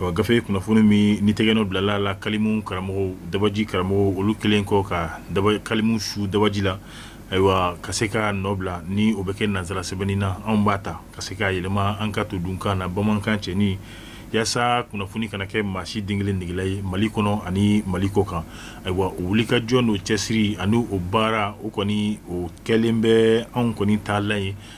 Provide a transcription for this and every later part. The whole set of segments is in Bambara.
ɔ gafe kunnafoni min ni tɛgɛnɔ bilala la kalimu karamɔgɔ dabaji karamɔgɔ olu kɛlen kɔ ka kalimu su dabaji la ayiwa ka se ka nɔ bila ni o bɛ kɛ nansara sɛbɛnni na anw b'a ta ka se k'a yɛlɛma an ka todunkan na bamanankan cɛɲi yaasa kunnafoni kana kɛ maa si den kelen negela ye mali kɔnɔ ani mali kɔ kan ayiwa o wulikajɔ n'o cɛsiri ani o baara o kɔni o kɛlen bɛ anw kɔni taalan ye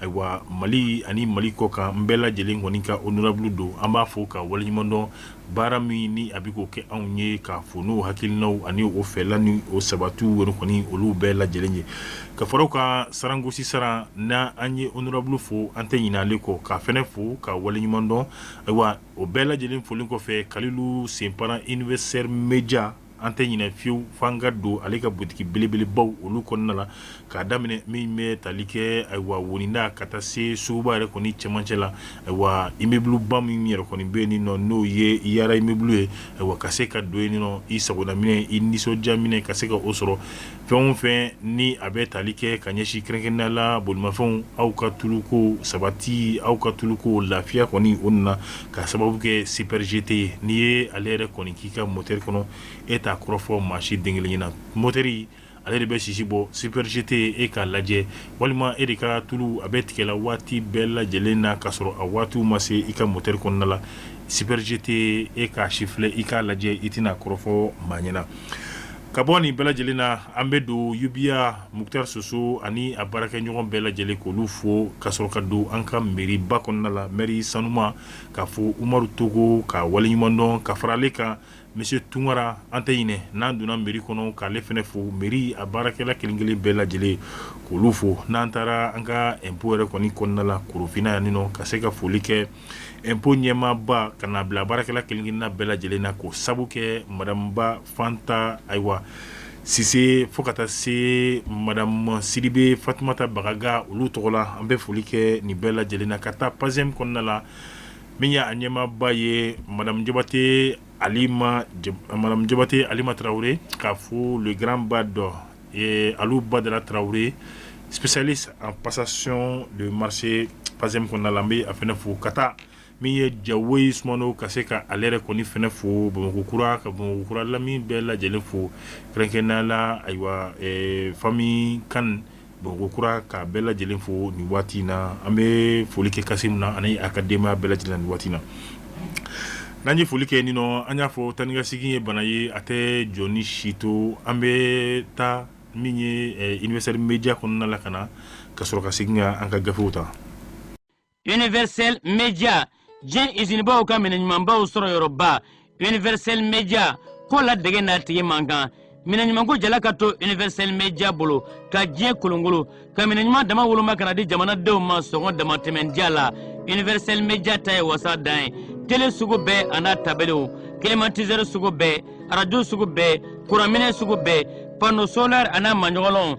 Ayiwa mali ani mali kɔ kan an bɛɛ lajɛlen kɔni ka honorable don an b'a fo k'a waleɲumandɔn baara min ni a bɛ k'o kɛ anw ye k'a fɔ n'o hakilinaw ani o fɛla ni o sabati yɛrɛ kɔni olu bɛɛ lajɛlen ye ka faraw ka sarangosi Saran n'an ye honorable fo an tɛ ɲin'ale kɔ k'a fɛnɛ fo k'a waleɲumandɔn ayiwa o bɛɛ lajɛlen folen kɔfɛ Kalilu Senpara Universel Média An tɛ ɲinɛ fiyewu f'an ka don ale ka butigi belebelebaw olu kɔnɔna la k'a daminɛ min bɛ tali kɛ ayiwa Wonida ka taa se suguba yɛrɛ kɔni cɛmancɛ la ayiwa immeuble ba min yɛrɛ kɔni bɛ yen nɔ n'o ye Yara immeuble ye ayiwa ka se ka don yen nɔ i sagona minɛn i nisɔndiya minɛn ka se ka o sɔrɔ fɛn o fɛn ni a bɛ tali kɛ ka ɲɛsin kɛrɛnkɛrɛnnenya la bolimafɛnw aw ka tuluko sabati aw ka tuluko lafiya kɔni o nana k'a sababu kɛ Super GT ye n'i ye ale yɛrɛ kɔni k'i ka mɔtɛri kɔnɔ e t'a kɔrɔfɔ maa si den kelen ɲɛna mɔtɛri ale de bɛ sisi bɔ Super GT e k'a lajɛ walima e de ka tulu a bɛ tigɛ la waati bɛɛ lajɛlen na ka sɔrɔ a waatiw ma se i ka mɔtɛri kɔnɔna la Super GT e k'a sifilɛ i k'a lajɛ i tɛna a kɔrɔfɔ maa ɲɛna. Ka bɔ nin bɛɛ lajɛlen na an bɛ don yubiya Mukutari Soso ani a baarakɛɲɔgɔn bɛɛ lajɛlen k'olu fo ka sɔrɔ ka don an ka mairie ba kɔnɔna la mairie sanuman k'a fɔ Umaru Togo k'a waleɲumandɔn ka fara ale kan monsieur Tunkara an tɛ ɲinɛ n'an donna mairie kɔnɔ k'ale fɛnɛ fo mairie a baarakɛla kelenkelen bɛɛ lajɛlen k'olu fo n'an taara an ka impôt yɛrɛ kɔni kɔnɔna la Korofina yan nin nɔ ka se ka foli kɛ Impôt ɲɛmaaba ka na bila baarakɛla kelen kelenna bɛɛ lajɛlen na k'o sabu kɛ madame Ba Fanta ayiwa Sise fo ka taa se madame Sidibe Fatumata Bagaga olu tɔgɔ la an bɛ foli kɛ nin bɛɛ lajɛlen na ka taa PACEM kɔnɔna la min y'a ɲɛmaaba ye madame Jabate Alima Tarawele k'a fɔ le grand Bado ee Alu Badara Tarawele spécialiste en passation de marché PACEM kɔnɔna la n bɛ a fɛnɛ fo ka taa min ye Jawoyi Sumano ka se ka ale yɛrɛ kɔni fɛnɛ fo bamakɔkura ka bamakɔkura lamini bɛɛ lajɛlen fo kɛrɛnkɛrɛnnenya la ayiwa famille Kane bamakɔkura ka bɛɛ lajɛlen fo nin waati in na an bɛ foli kɛ Kasimu na ani a ka denbaya bɛɛ lajɛlen nin waati na N'an ye foli kɛ nin nɔ an y'a fɔ taa ni ka segin ye bana ye a tɛ jɔn ni si to an bɛ taa min ye universel media kɔnɔna la ka na ka sɔrɔ ka segin ka an ka gafew ta universel media diɲɛ izinibaw ka minɛɲumanbaw sɔrɔ yɔrɔba universel media ko ladege n'a tigi man kan minɛɲumanko jala ka to universel media bolo ka diɲɛ kolonkolon ka minɛɲuman dama woloma ka n'a di jamanadenw ma sɔngɔ damatɛmɛndiya la universel media ta ye wasa dan ye tele sugu bɛɛ a n'a tabelew climatiseur sugu bɛɛ arajo sugu bɛɛ kuranminɛ sugu bɛɛ panneau solaire a n'a maɲɔgɔlɔnw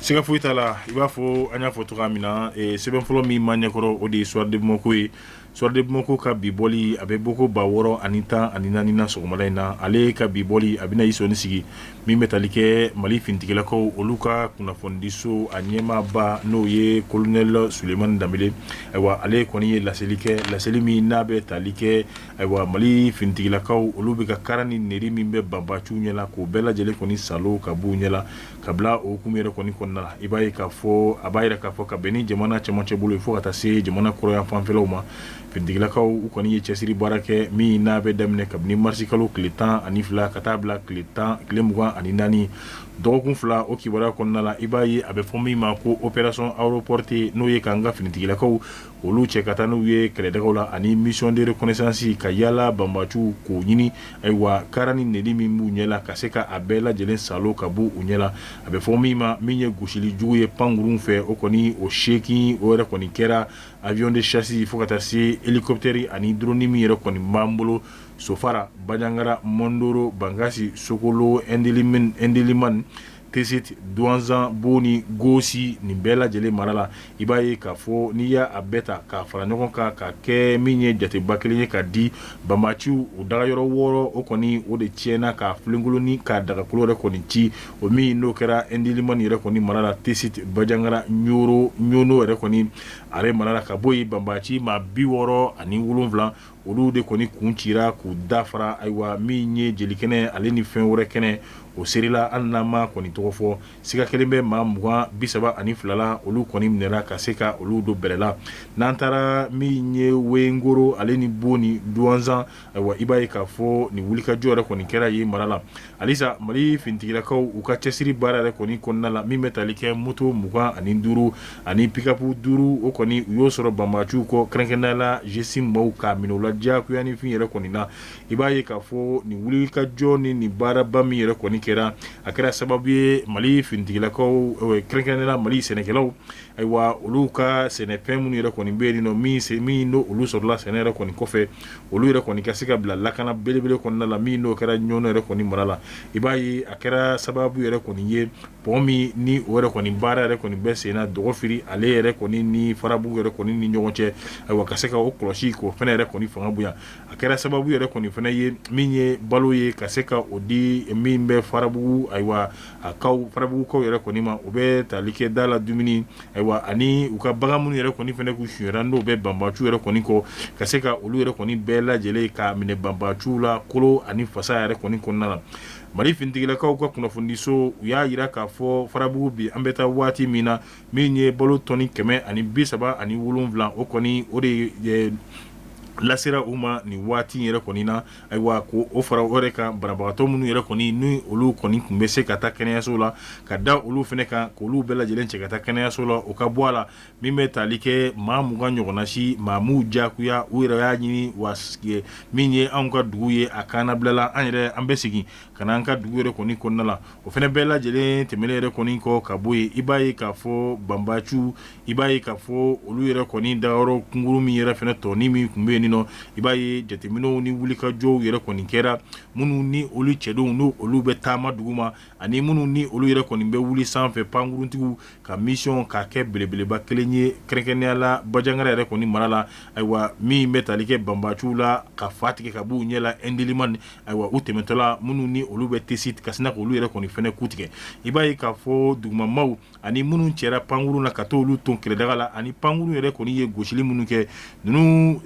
Siga foyi t'a la i b'a fɔ an y'a fɔ cogo min na sɛbɛn fɔlɔ min b'an ɲɛkɔrɔ o de ye soir de bamakɔ ye soir de bamakɔ ka bi bɔli a bɛ bɔko ba wɔɔrɔ ani tan ani naaninan sɔgɔmada in na ale ka bi bɔli a bɛna i sɔnin sigi min bɛ tali kɛ mali finitigilakaw olu ka kunnafonidiso a ɲɛmaaba n'o ye kolonɛli sulemani danbele ayiwa ale kɔni ye laseli kɛ laseli min n'a bɛ tali kɛ ayiwa mali finitigilakaw olu bɛ ka kara ni nɛri min bɛ banbaciw ɲɛ la k'o bɛɛ lajɛlen kɔni salo ka b'u ɲɛ ka bila o hukumu yɛrɛ kɔni kɔnɔna la i b'a ye k'a fɔ a b'a jira k'a fɔ ka bɛn ni jamana cɛmancɛ bolo ye fo ka taa se jamana kɔrɔnyan fanfɛlaw ma finitigilakaw u kɔni ye cɛsiri baara kɛ min n'a bɛ daminɛ kabini marisikalo tile tan ani fila ka taa bila tile tan tile mugan ani naani dɔgɔkun fila o kibaruya kɔnɔna la i b'a ye a bɛ fɔ min ma ko opération aéroportée n'o ye k'an ka finitigilakaw olu cɛ ka taa n'u ye kɛlɛdagaw la ani mission de reconnaissance ka yaala banbaciw k'o ɲini ayiwa kara ni nɛri min b'u ɲɛ la ka se k'a bɛɛ lajɛlen salo ka bɔ u ɲɛ la a bɛ fɔ min ma min ye gosili jugu ye pankurunw fɛ o kɔni o seeki o yɛrɛ kɔni kɛra avion de chasse fo ka taa se hélicoptère ani drone min yɛrɛ kɔni b'an bolo sofara bajangara mɔndoro bankasi sokolo indeliman tesit duwanzan boni gosi nin bɛɛ lajɛlen mara la i b'a ye k'a fɔ n'i y'a bɛɛ ta k'a fara ɲɔgɔn kan ka kɛ min ye jateba kelen ye ka di banbaciw u dagayɔrɔ wɔɔrɔ o kɔni o de tiɲɛna k'a filenkolonin k'a dagakolo yɛrɛ kɔni ci o min n'o kɛra indeliman yɛrɛ kɔni mara la tesit bajangara ɲono yɛrɛ kɔni ale mara la ka bɔ yen banbaci maa bi wɔɔrɔ ani wolonwula olu de kɔni kun cira k'u da fara ayiwa min ye jelikɛnɛ ale ni fɛn wɛrɛ kɛnɛ o serila hali n'a ma kɔni tɔgɔ fɔ siga kɛlen bɛ maa mugan bi saba ani fila la olu kɔni minɛra ka se ka olu don bɛrɛ la n'an taara min ye wengoro ale ni boni duwanzan ayiwa i b'a ye k'a fɔ nin wulikajɔ yɛrɛ kɔni kɛra yen mara la Halisa mali finitigilakaw u ka cɛsiri baara yɛrɛ kɔni kɔnɔna la min bɛ tali kɛ moto mugan ani duuru ani pikapu duuru o kɔni u y'o sɔrɔ banbaciw kɔ kɛrɛnkɛrɛnnenya la GSIM maaw k'a minɛ u la diyagoya ni fin yɛrɛ kɔni na i b'a ye k'a fɔ nin wulikajɔ ni nin baaraba min yɛrɛ kɔni kɛra a kɛra sababu ye mali finitigilakaw kɛrɛnkɛrɛnnenya la mali sɛnɛkɛlaw Ayiwa olu ka sɛnɛfɛn minnu yɛrɛ kɔni bɛ yen nɔ min n'olu sɔrɔla sɛnɛ yɛrɛ kɔni kɔfɛ olu yɛrɛ kɔni ka se ka bila lakana belebele kɔnɔna la min n'o kɛra ɲɔnɔ yɛrɛ kɔni mara la i b'a ye a kɛra sababu yɛrɛ kɔni ye pɔn min ni o yɛrɛ kɔni baara yɛrɛ kɔni bɛ senna dɔgɔfiri ale yɛrɛ kɔni ni farabugu yɛrɛ kɔni ni ɲɔgɔn cɛ ayiwa ka se ka o kɔlɔsi k'o fana yɛrɛ kɔni fanga bonya a kɛra sababu yɛrɛ kɔni fana ye min ye balo ye ka se ka o di min bɛ farabugu ayiwa a kaw farabugukaw yɛrɛ kɔni ma o bɛ tali kɛ da la dumuni ayiwa ani u ka bagan minnu yɛrɛ kɔni fana k'u sonyara n'o bɛ banbaciw yɛrɛ kɔni kɔ ka se ka olu yɛrɛ kɔni bɛɛ lajɛlen k'a minɛ banbaciw la kolo ani fasa yɛrɛ kɔni kɔnɔna na mali finitigilakaw ka kunnafonidiso u y'a jira k'a fɔ farabugu bi an bɛ taa waati min na min ye balo tɔni kɛmɛ ani bi saba ani wolonwula o kɔni o de lasera u ma nin waati yɛrɛ kɔni na Ayiwa ko o fara o yɛrɛ kan banabagatɔ minnu yɛrɛ kɔni n'olu kɔni tun bɛ se ka taa kɛnɛyaso la ka da olu fana kan k'olu bɛɛ lajɛlen cɛ ka taa kɛnɛyaso la o ka bɔ a la min bɛ tali kɛ maa mugan ɲɔgɔnna si maa m'u diyagoya u yɛrɛ y'a ɲini wa min ye an ka dugu ye a kana bilala an yɛrɛ an bɛ segin ka na an ka dugu yɛrɛ kɔni kɔnɔna la o fana bɛɛ lajɛlen tɛmɛnen yɛrɛ kɔni kɔ ka bɔ yen i b'a ye k'a fɔ banbaciw i b'a ye k'a fɔ olu yɛrɛ kɔni dagayɔrɔ kunkuru min yɛrɛ fana tɔnin min tun bɛ yen nɔ i b'a ye jateminɛw ni wulikajɔw yɛrɛ kɔni kɛra minnu ni olu cɛdenw n'olu bɛ taama dugu ma ani minnu ni olu yɛrɛ kɔni bɛ wuli sanfɛ pankuruntigiw ka misiyɔn k'a kɛ belebeleba kelen ye kɛrɛnkɛrɛnnenya la bajangara yɛrɛ kɔni mara la ayiwa min bɛ tali kɛ banbaciw la ka fa tigɛ ka b'u ɲɛ la ɛndiliman ayiwa u tɛmɛtɔla minnu ni olu bɛ tesi kasi na k'olu yɛrɛ kɔni fana ku tigɛ i b'a ye k'a fɔ dugumamaw ani minnu cɛra pankurun na ka t'olu ton kɛlɛdaga la ani pankurun yɛrɛ kɔni ye gosili minnu kɛ ninnu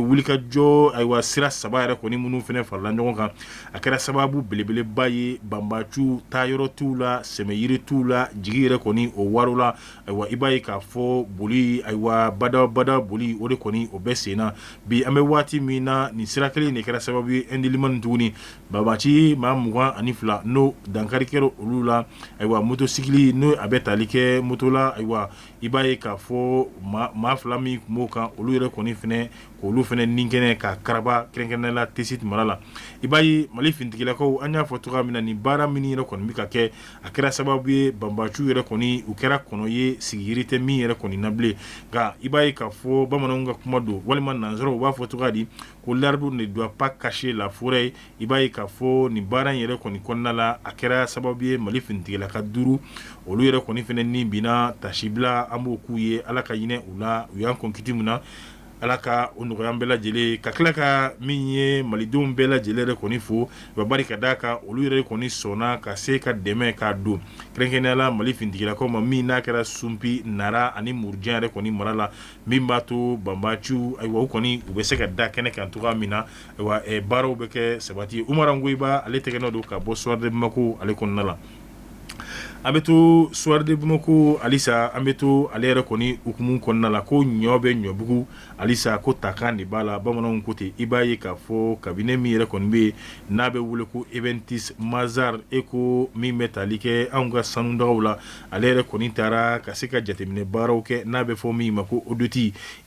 wulikajɔ ayiwa sira saba yɛrɛ kɔni minnu fana farala ɲɔgɔn kan a kɛra sababu belebeleba ye banbaciw taayɔrɔ t'u la sɛmɛyiri t'u la jigi yɛrɛ kɔni o waarola ayiwa i b'a ye k'a fɔ boli ayiwa badabada boli o de kɔni o bɛ sen na bi an bɛ waati min na nin sira kelen de kɛra sababu ye ɛndiliman tuguni Banbaci maa mugan ani fila n'o dankari kɛra olu la ayiwa motosikili n'o a bɛ tali kɛ moto la ayiwa i b'a ye k'a fɔ maa fila min tun b'o kan olu yɛrɛ kɔni fana k'olu fana ni kɛnɛ k'a karaba kɛrɛnkɛrɛnnenya la tesi mara la i b'a ye mali finitigilakaw an y'a fɔ cogoya min na ni baara min yɛrɛ kɔni bɛ ka kɛ a kɛra sababu ye banbaciw yɛrɛ kɔni u kɛra kɔnɔ ye sigiyiri tɛ min yɛrɛ kɔni na bilen nka i b'a ye k'a fɔ bamananw ka kuma don walima nansaraw u b'a fɔ cogoya di ko l'arbre ne doit pas cacher la forêt i b'a ye k'a fɔ nin baara in yɛrɛ kɔni kɔnɔna la a kɛra sababu ye mali finitigilaka duuru olu yɛrɛ kɔni fana ni binna tasibila an b'o k'u ye ala ka hinɛ u la u y'an kɔn kiti min na ala ka o nɔgɔya bɛɛ lajɛlen ka tila ka min ye malidenw bɛɛ lajɛlen yɛrɛ kɔni fo wa bari ka d'a kan olu yɛrɛ kɔni sɔnna ka se ka dɛmɛ k'a don kɛrɛnkɛrɛnnenya la mali finitigilakaw ma min n'a kɛra sunpi na ani murujan yɛrɛ kɔni mara la min b'a to banbaanciw ayiwa u kɔni u bɛ se ka da kɛnɛ kan cogoya min na ayiwa baaraw bɛ kɛ sabati ye umaru angoyiba ale tɛgɛnɔ don ka bɔ Soir de Bamako ale kɔnɔna la an bɛ to Soir de Bamako halisa an bɛ to ale yɛrɛ kɔni hukumu kɔnɔna la ko ɲɔ bɛ ɲɔbugu halisa ko takan de b'a la bamananw ko ten i b'a ye k'a fɔ cabinet min yɛrɛ kɔni bɛ yen n'a bɛ wele ko Iventus Mazars e ko min bɛ tali kɛ an ka sanu dagaw la ale yɛrɛ kɔni taara ka se ka jateminɛ baaraw kɛ n'a bɛ fɔ min ma ko audit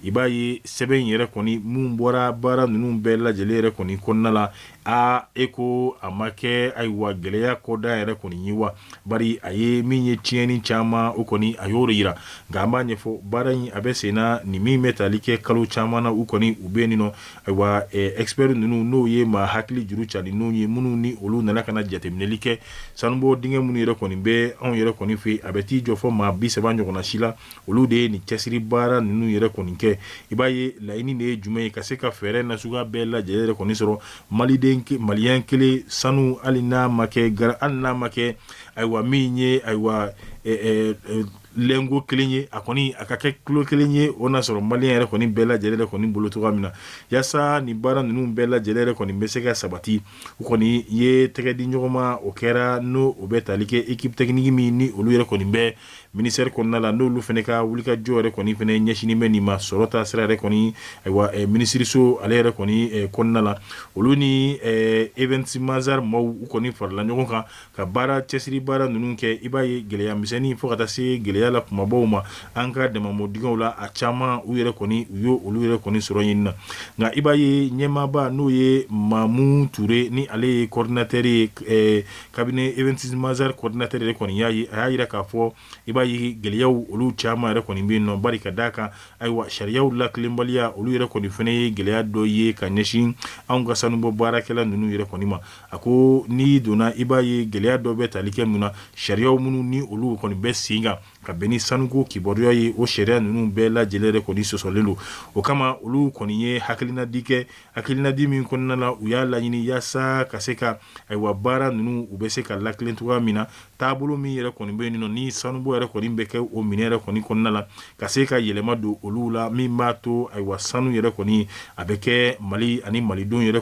i b'a ye sɛbɛn in yɛrɛ kɔni min bɔra baara ninnu bɛɛ lajɛlen yɛrɛ kɔni kɔnɔna la aa e ko a ma kɛ ayiwa gɛlɛya kɔda yɛrɛ kɔni ye wa bari a ye min ye tiɲɛni caman o kɔni a y'o jira nka an b'a ɲɛfɔ baara in a bɛ sen na ni min bɛ tali kɛ kalo caman na u kɔni u bɛ nin nɔ Ayiwa expert ninnu n'o ye maa hakili juru carinenw ye minnu ni olu nana ka na jateminɛli kɛ sanubɔ dingɛ minnu yɛrɛ kɔni bɛ anw yɛrɛ kɔni fɛ a bɛ t'i jɔ fo maa bi saba ɲɔgɔnna si la olu de ye nin cɛsiri baara ninnu yɛrɛ kɔni kɛ i b'a ye laɲini de ye jumɛn ye ka se ka fɛɛrɛ nasuguya bɛɛ lajɛlen yɛrɛ kɔni sɔrɔ maliyɛn kelen sanu hali n'a ma kɛ hali n'a ma kɛ ayiwa min ye ayiwa lingot kelen ye a kɔni a ka kɛ kilo kelen ye o n'a sɔrɔ maliyɛn yɛrɛ kɔni bɛɛ lajɛlen yɛrɛ kɔni bolo cogoya min na walasa nin baara ninnu bɛɛ lajɛlen yɛrɛ kɔni bɛ se ka sabati u kɔni ye tɛgɛ di ɲɔgɔn ma o kɛra n'o o bɛ tali kɛ équipe technique min ni olu yɛrɛ kɔni bɛ ministère kɔnɔna la n'olu fana ka wulikajɔ yɛrɛ kɔni fana ɲɛsinnen bɛ nin ma sɔrɔ ta sira yɛrɛ kɔni minisiririso ale yɛrɛ kɔni kɔnɔna la olu ni Iventus Mazars maaw u kɔni farala ɲɔgɔn kan ka baara cɛsiri baara ninnu kɛ i b'a ye gɛlɛya misɛnnin fo ka taa se gɛlɛya la kumabaw ma an ka daman dingɛw la a caman u yɛrɛ kɔni u y'olu yɛrɛ kɔni sɔrɔ ɲini na nka i b'a ye ɲɛmaaba n'o ye mamu ture ni ale ye coordinateur ye cabinet Iventus Mazars coordinateur yɛrɛ kɔni y'a ye a y'a jira k'a fɔ i b'a ye gɛlɛya olu caman yɛrɛ kɔni bɛ yen nɔ bari ka d'a kan ayiwa sariya latilenbaliya olu yɛrɛ kɔni fana ye gɛlɛya dɔ ye ka ɲɛsin an ka sanubɔ baarakɛla ninnu yɛrɛ kɔni ma A ko n'i donna i b'a ye gɛlɛya dɔ bɛ tali kɛ mun na sariyaw minnu ni olu kɔni bɛ sen kan ka bɛn ni sanuko kibaruya ye o sariya ninnu bɛɛ lajɛlen yɛrɛ kɔni sɔsɔlen don o kama olu kɔni ye hakilinadi kɛ hakilinadi min kɔnɔna la u y'a laɲini yaasa ka se ka ayiwa baara ninnu u bɛ se ka latilen cogoya min na taabolo min yɛrɛ kɔni bɛ yen nɔ ni sanubɔ yɛrɛ kɔni bɛ kɛ o minɛ yɛrɛ kɔni kɔnɔna la ka se ka yɛlɛma don olu la min b'a to ayiwa sanu yɛrɛ kɔni a bɛ kɛ mali ani malidenw yɛrɛ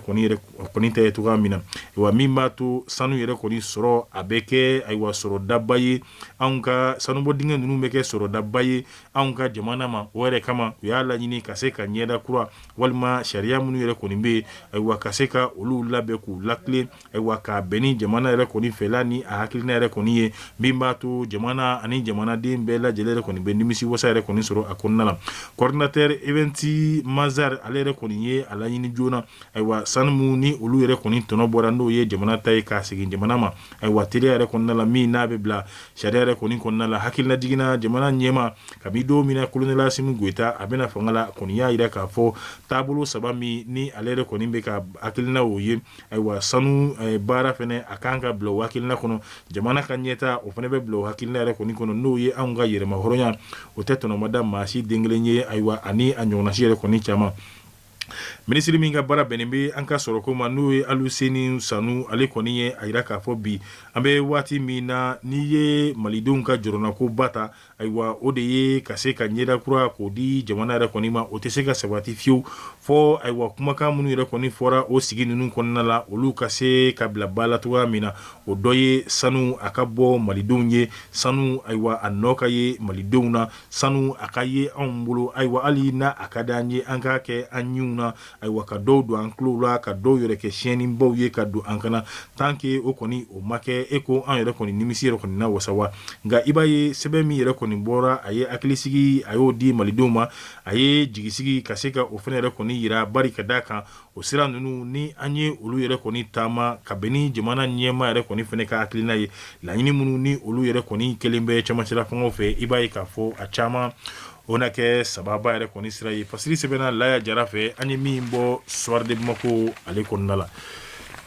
kɔni ta ye cogoya min na ayiwa min b'a to sanu yɛrɛ kɔni sɔrɔ a bɛ kɛ ayiwa sɔrɔ daba ye anw ka sanubɔ dingɛ ninnu bɛ kɛ sɔrɔ daba ye anw ka jamana ma o yɛrɛ kama u y'a laɲini ka se ka ɲɛda kura walima sariya minnu yɛrɛ kɔni bɛ yen ayiwa ka se ka olu labɛn k'u lati ayiwa ka bɛn ni jamana yɛrɛ kɔni fɛla ni a hakilina yɛrɛ kɔni ye min b'a to jamana ani jamanaden bɛɛ lajɛlen yɛrɛ kɔni bɛ nimisi wasa yɛrɛ kɔni sɔrɔ a kɔnɔna la coordinateur Iventus Mazars ale yɛrɛ kɔni ye a laɲini joona ayiwa sanu minnu ni olu yɛrɛ kɔni tɔnɔ bɔra n'o ye jamana ta ye k'a segin jamana ma ayiwa teliya yɛrɛ kɔnɔna la min n'a bɛ bila sariya yɛrɛ kɔni kɔnɔna la hakililajigin na jamana ɲɛmaa kabi don min na Colonel Assimi Goïta a bɛna fanga la kɔni y'a jira k'a fɔ taabolo saba min ni ale yɛrɛ kɔni bɛ ka hakilina o ye Ayiwa sanu baara fɛnɛ a kan ka bila o hakilina kɔnɔ jamana ka ɲɛtaa o fɛnɛ bɛ bila o hakilina yɛrɛ kɔni kɔnɔ n'o ye anw ka yɛrɛmahɔrɔnya o tɛ tɔnɔmada maa si den kelen ye ayiwa ani a ɲɔgɔnna si yɛrɛ kɔni caman minisiri min ka baara bɛnnen bɛ an ka sɔrɔko ma n'o ye Aluseni Sanu ale kɔni ye a jira k'a fɔ bi an bɛ waati min na n'i ye malidenw ka jɔrɔnako ba ta Ayiwa o de ye ka se ka ɲɛda kura k'o di jamana yɛrɛ kɔni ma o tɛ se ka sabati fiyewu fɔ ayiwa kumakan minnu yɛrɛ kɔni fɔra o sigi ninnu kɔnɔna la olu ka se ka bila ba la cogoya min na o dɔ ye sanu a ka bɔ malidenw ye sanu ayiwa a nɔ ka ye malidenw na sanu a ka ye anw bolo ayiwa hali n'a a ka di an ye an k'a kɛ an ɲinw na Ayiwa ka dɔw don an tulo la ka dɔw yɛrɛ kɛ siyɛnni baw ye ka don an kan na tant que o kɔni o ma kɛ e ko an yɛrɛ kɔni nimisi yɛrɛ kɔni na wasa wa nka i b'a ye sɛbɛn min yɛrɛ kɔni bɔra a ye hakilisigi a y'o di malidenw ma a ye jigisigi ka se ka o fana yɛrɛ kɔni yira bari ka d'a kan o sira ninnu ni an ye olu yɛrɛ kɔni taama ka bɛn ni jamana ɲɛmaa yɛrɛ kɔni fana ka hakilina ye laɲini minnu ni olu yɛrɛ kɔni kɛlen bɛ cɛmancɛla fanga fɛ i b'a ye k'a fɔ a caman O na kɛ sababa yɛrɛ kɔni sira ye fasiri sɛbɛnna Laya Jara fɛ an ye min bɔ Soir de Bamako ale kɔnɔna la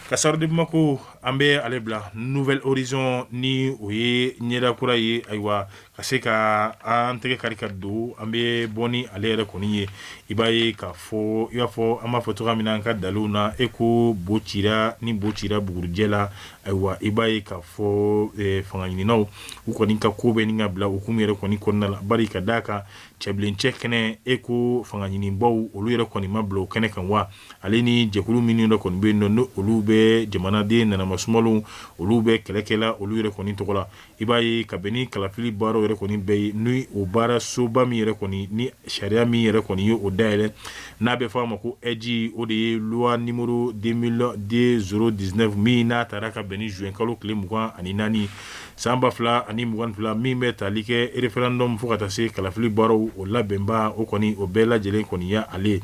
ka Soir de Bamako an bɛ ale bila Nouvel Horizon ni o ye ɲɛda kura ye ayiwa ka se ka an tɛgɛ kari ka don an bɛ bɔ ni ale yɛrɛ kɔni ye i b'a ye k'a fɔ i b'a fɔ an b'a fɔ cogoya min na an ka dalu na e ko bo cira ni bo cira bugurujɛ la Ayiwa i b'a ye k'a fɔ fanga ɲininaw u kɔni ka ko bɛ ɲini ka bila hukumu yɛrɛ kɔni kɔnɔna la bari ka d'a kan cɛbilencɛ kɛnɛ e ko fanga ɲinibaw olu yɛrɛ kɔni ma bila o kɛnɛ kan wa ale ni jɛkulu minnu yɛrɛ kɔni bɛ yen nɔ ni olu bɛ jamanaden nanama sumalenw olu bɛ kɛlɛ kɛ la olu yɛrɛ kɔni tɔgɔ la i b'a ye ka bɛn ni kalafili baaraw yɛrɛ kɔni bɛɛ ye ni o baara soba min yɛrɛ kɔni ni sariya min yɛrɛ kɔni ye o dayɛlɛn n'a bɛ f'a ma ko ɛji o de ye loi numéro zéro dix-neuf min n'a tara ka bɛn ni juin kalo tile mugan ani naani san ba fila ani mugan ni fila min bɛ tali kɛ referendum fo ka taa se kalafili baaraw o labɛnba o kɔni o bɛɛ lajɛlen kɔniya ale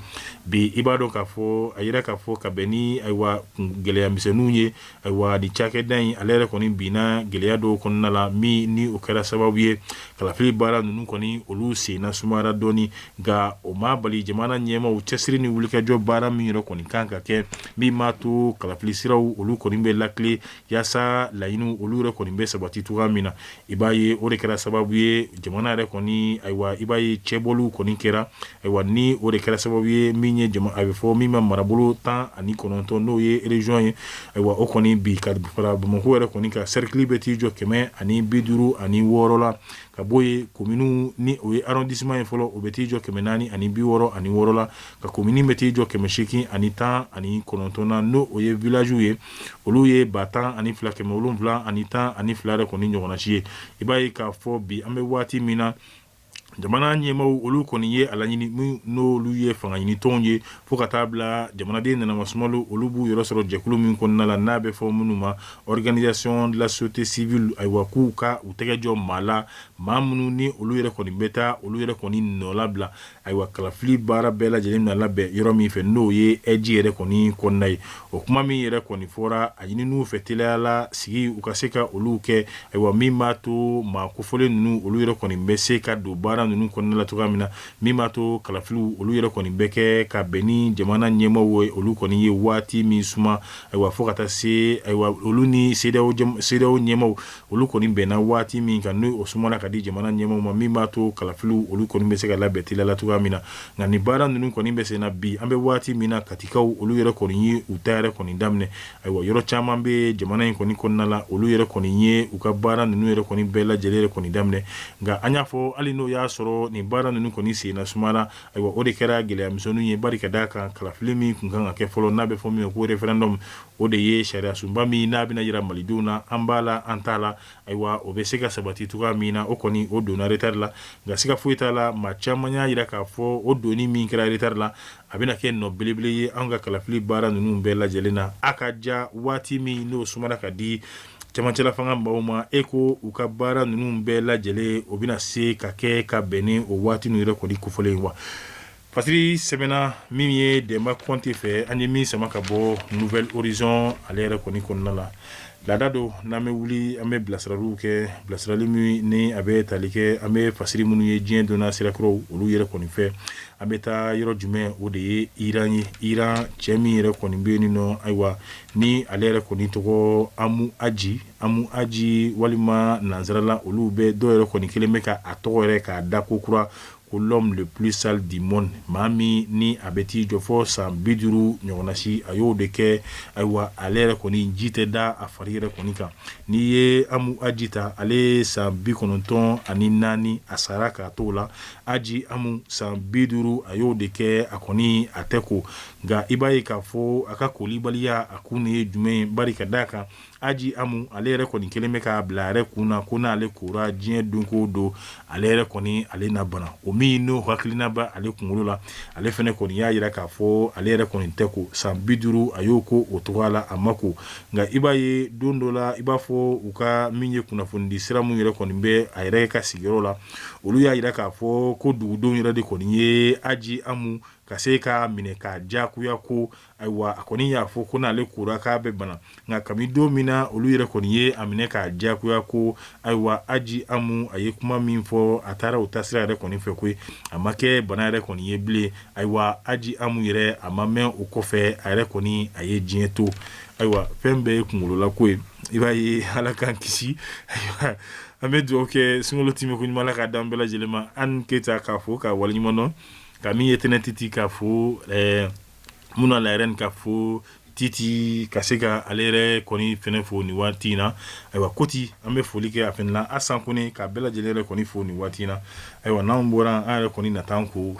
bi i b'a dɔn k'a fɔ a yira k'a fɔ ka bɛn ni ayiwa gɛlɛya misɛnninw ye Ayiwa ni cakɛda in ale yɛrɛ kɔni binna gɛlɛya dɔw kɔnɔna la min ni o kɛra sababu ye kalafili baara ninnu kɔni olu senna sumayara dɔɔni nka o ma bali jamana ɲɛmaaw cɛsiri ni wulikajɔ baara min yɛrɛ kɔni kan ka kɛ min m'a to kalafili siraw olu kɔni bɛ lakile yaasa laɲiniw olu yɛrɛ kɔni bɛ sabati cogoya min na I b'a ye o de kɛra sababu ye jamana yɛrɛ kɔni ayiwa i b'a ye cɛbɔliw kɔni kɛra ayiwa ni o de kɛra sababu ye min ye a bɛ fɔ min ma marabolo tan ani kɔnɔntɔn n'o ye région ye ayiwa o kɔni bi ka fara Bamakɔ yɛrɛ kɔni ka cercle bɛ t'i jɔ kɛmɛ ani bi duuru ani wɔɔrɔ la ka bɔ yen commune ni o ye arrondissement ye fɔlɔ o bɛ t'i jɔ kɛmɛ naani ani bi wɔɔrɔ ani wɔɔrɔ la ka commune bɛ t'i jɔ kɛmɛ seegin ani tan ani kɔnɔntɔn na n'o o ye villagew ye olu ye ba tan ani fila kɛmɛ wolonwula ani tan ani fila yɛrɛ kɔni ɲɔgɔnnasi ye i b'a ye k'a fɔ bi an bɛ waati min na jamana ɲɛmaw olu kɔni ye a laɲini n'olu ye fangaɲinitɔnw ye fo ka taa bila jamanaden nanama sumalu olu b'u yɔrɔ sɔrɔ jɛkulu min kɔnɔna la n'a bɛ fɔ minnu ma organisation de la société civile ayiwa k'u ka u tɛgɛ jɔ maa la maa minnu ni olu yɛrɛ kɔni bɛ taa olu yɛrɛ kɔni nɔlabila Ayiwa kalafili baara bɛɛ lajɛlen na labɛn yɔrɔ min fɛ n'o ye ɛji yɛrɛ kɔni kɔnɔna ye o kuma min yɛrɛ kɔni fɔra a ɲinina u fɛ teliya la sigi u ka se ka olu kɛ ayiwa min b'a to maa kofɔlen ninnu olu yɛrɛ kɔni bɛ se ka don baara ninnu kɔnɔna la cogoya min na min b'a to kalafiliw olu yɛrɛ kɔni bɛ kɛ ka bɛn ni jamana ɲɛmaaw olu kɔni ye waati min suma ayiwa fo ka taa se ayiwa olu ni CEDEAO ɲɛmaaw Olu kɔni bɛnna waati min kan n'o sumana ka di jamana ɲɛmaaw ma min b'a to kalafiliw olu kɔni bɛ se ka labɛn teliya la cogoya min na nka nin baara ninnu kɔni bɛ sen na bi an bɛ waati min na Katikaw olu yɛrɛ kɔni ye u ta yɛrɛ kɔni daminɛ ayiwa yɔrɔ caman bɛ jamana in kɔni kɔnɔna la olu yɛrɛ kɔni ye u ka baara ninnu yɛrɛ kɔni bɛɛ lajɛlen yɛrɛ kɔni daminɛ nka an y'a fɔ hali n'o y'a sɔrɔ nin baara ninnu kɔni senna sumana ayiwa o de kɛra gɛlɛya misɛnninw ye bari ka d'a kan kalafili min tun kan ka kɛ fɔlɔ n'a bɛ fɔ min ma ko referendum O de ye sariya sunba min n'a bɛna jira malidenw na an b'a la an t'a la ayiwa o bɛ se ka sabati cogoya min na o kɔni o donna retard la nka siga foyi t'a la maa caman y'a jira k'a fɔ o donni min kɛra retard la a bɛna kɛ nɔ belebele ye an ka kalafili baara ninnu bɛɛ lajɛlen na a ka ja waati min n'o sumana ka di cɛmancɛla fanga maaw ma e ko u ka baara ninnu bɛɛ lajɛlen o bɛna se ka kɛ ka bɛn ni o waati ninnu yɛrɛ kɔni kofɔlen wa Fasiri sɛbɛnna min ye demba kɔnte fɛ an ye min sama ka bɔ nouvelle horizon ale yɛrɛ kɔni kɔnɔna la laada don n'an bɛ wuli an bɛ bilasiraliw kɛ bilasirali min ni a bɛ tali kɛ an bɛ fasiri minnu ye diɲɛ donna sirakɔrɔw olu yɛrɛ kɔni fɛ an bɛ taa yɔrɔ jumɛn o de ye iran ye iran cɛ min yɛrɛ kɔni bɛ yen nɔ ayiwa ni ale yɛrɛ kɔni tɔgɔ amu aji amu aji walima nansarala olu bɛ dɔw yɛrɛ kɔni kɛlen bɛ ka a tɔgɔ yɛrɛ k'a da ko kura Ko l'homme le plus sale du monde maa min ni a bɛ t'i jɔ fo san bi duuru ɲɔgɔnna si a y'o de kɛ ayiwa ale yɛrɛ kɔni ji tɛ da a fari yɛrɛ kɔni kan n'i ye amu aji ta ale san bi kɔnɔntɔn ani naani a sara k'a t'o la aji amu san bi duuru a y'o de kɛ a kɔni a tɛ ko nka i b'a ye k'a fɔ a ka kolibaliya a kun nin ye jumɛn ye bari ka d'a kan Aji Amu ale yɛrɛ kɔni kɛlen bɛ k'a bila a yɛrɛ kun na ko n'ale kora diɲɛ don ko don ale yɛrɛ kɔni ale na bana o min n'o hakilina bɛ ale kunkolo la ale fana kɔni y'a jira k'a fɔ ale yɛrɛ kɔni tɛ ko san bi duuru a y'o kɛ o cogoya la a ma ko nka i b'a ye don dɔ la i b'a fɔ u ka min ye kunnafonidi sira min yɛrɛ kɔni bɛ a yɛrɛ ka sigiyɔrɔ la olu y'a jira k'a fɔ ko dugudenw yɛrɛ de kɔni ye Aji Amu ka se k'a minɛ k'a diyagoya ko Ayiwa a kɔni y'a fɔ ko n'ale kora k'a bɛ bana nka kabi don min na olu yɛrɛ kɔni ye a minɛ k'a diyagoya ko ayiwa aji amu a ye kuma min fɔ a taara o ta sira yɛrɛ kɔni fɛ koyi a ma kɛ bana yɛrɛ kɔni ye bilen ayiwa aji amu yɛrɛ a ma mɛn o kɔfɛ a yɛrɛ kɔni a ye diɲɛ to ayiwa fɛn bɛɛ ye kunla ko ye i b'a ye ala k'an kisi ayiwa an bɛ dugawu kɛ sunkalo tɛmɛ ko ɲuman k'a d'an bɛɛ lajɛlen ma an keyita k'a fo k'a waleɲuman dɔn ka min ye tɛnɛ titi k'a fo ɛɛ Muna ale yɛrɛ kɔni k'a fo titi ka se ka ale yɛrɛ kɔni fana fo nin waati in na ayiwa koti an bɛ foli kɛ a asan kone ka bɛɛ lajɛlen yɛrɛ fo nin waati in na ayiwa n'an bɔra an yɛrɛ kɔni na tan ko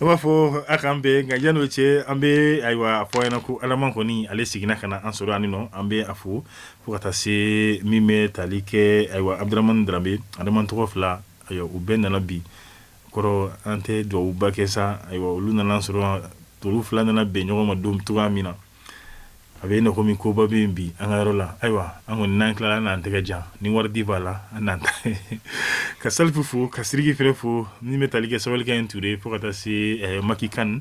an b'a fɔ a k'an bɛn nka yan'o cɛ an bɛ ayiwa a fɔ ɲɛna ko alaman kɔni ale seginna ka na an sɔrɔ yan nɔ an bɛ a fo fo ka taa se min bɛ tali kɛ ayiwa abudramani drambe adama tɔgɔ fila ayiwa u bɛɛ nana bi kɔrɔ an tɛ dugawuba kɛ sa ayiwa olu nana sɔrɔ tolu fila nana bɛn ɲɔgɔn ma don cogoya min na a bɛ i komi koba bɛ yen bi an ka yɔrɔ la ayiwa an kɔni n'an tilala an n'an tɛgɛ jan ni wari di b'a la an n'an ta ka salifu fo ka siriki fana fo min bɛ tali kɛ sabalikɛ in ture fo ka taa se eh, maki kan